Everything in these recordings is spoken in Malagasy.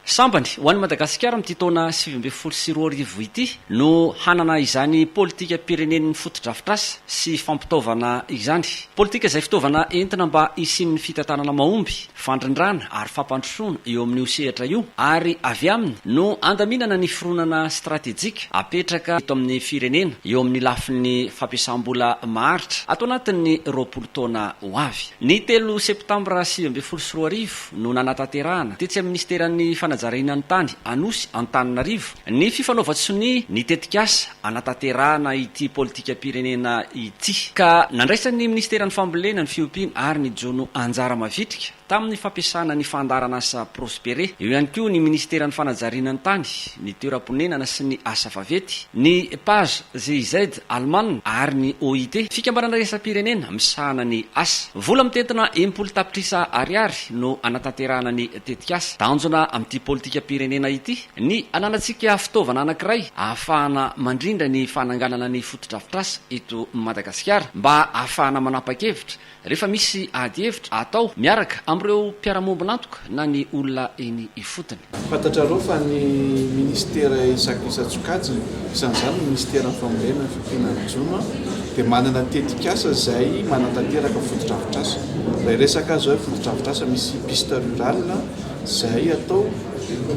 Sambany ho an'i Madagasikara amin'ity taona sivy ambin'ny folo sy roa arivo ity no hanana izany politikam-pirenen'ny fotodrafitrasa sy fampitaovana izany. Politika izay fitaovana entina mba hisian'ny fitantanana mahomby, fandrindrana ary fampandrosoana eo amin'io sehatra io ary avy aminy no handaminana ny fironana stratejika apetraka eto amin'ny firenena eo amin'ny lafiny fampiasam-bola maharitra ato anatin'ny roapolo taona ho avy. Ny telo septambra sivy ambin'ny folo sy roa arivo, no nanatanterahana, tetsy amin'ny Minisiteran'ny Fanajariana ny Tany, Anosy, Antananarivo, ny fifanaovan-tsonia ny tetikasa hanatanterahana ity politikam-pirenena ity, ka nandraisan'ny Minisiteran'ny Fambolena ny fiompiana ary ny jono anjara mavitrika tamin'ny fampiasana ny fandaharanasa Prospere, eo ihany koa ny Minisiteran'ny Fanajariana ny Tany, ny Toeram-ponenana sy ny Asa Vavety, ny PAJZIZ, Alemana, ary ny OIT, Fikambanana Iraisam-pirenena misahana ny Asa. Vola mitentina enimpolo tapitrisa Ariary no hanatanterahana ny tetikasa. Tanjona amin'ity politikam-pirenena ity ny hananantsika fitaovana anankiray ahafahana mandrindra ny fananganana ny fotodrafitrasa eto Madagasikara mba ahafahana manapa-kevitra Rehefa misy ady hevitra atao miaraka amin'ireo mpiara-miombon'antoka na ny olona eny ifotony. Fantatrareo fa ny Minisitera isan isan-tsokajiny, isan'izany ny Minisiteran'ny Fambolena, ny Fiompiana, ny Jono, dia manana tetikasa izay manatanteraka fotodrafitrasa. Ilay resaka azo hoe fotodrafitrasa misy piste rural izay atao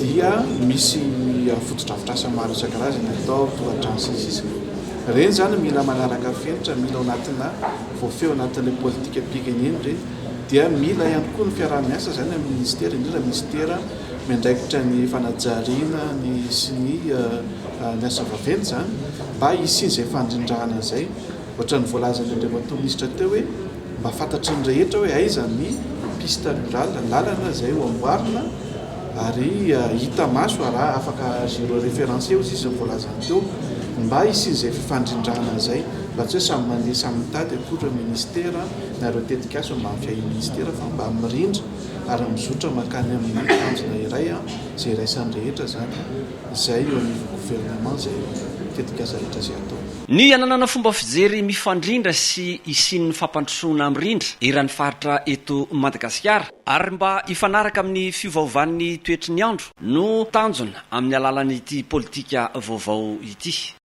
dia misy fotodrafitrasa maro isan-karazany atao, tohadrano sy ny sisa. Ireny izany mila manaraka fenitra, mila ao anatina. voafehona ato any amin'ny politikam-pirenena ireny dia mila ihany koa ny fiaraha-miasa izany amin'ny minisitera, indrindra ny minisitera miandraikitra ny fanajariana ny sy ny ny asa vaventy izany mba hisian'izay fandrindrana izay. Ohatran'ny voalazan'ny Andriamatoa Minisitra teo hoe mba fantatry ny rehetra hoe aiza ny piste rurale, lalana izay ho amboarina, ary hita maso araha afaka zero reference eo zisiny voalazany teo mba hisian'izay fifandrindrana an'izay mba tsy hoe samy mandeha samy mitady akory ministera na ireo tetikasa mba amin'ny fiahian'ny ministera fa mba mirindra ary mizotra makany amin'ny tanjona iray an izay iraisan'ny rehetra zany izay eo anivon'ny gouvernement izay tetikasa rehetra izay atao. Ny hananana fomba fijery mifandrindra sy hisian'ny fampandrosoana mirindra eran'ny faritra eto Madagasikara. ary mba hifanaraka amin'ny fiovaovan'ny toetry ny andro no tanjona amin'ny alalan'ity politika vaovao ity.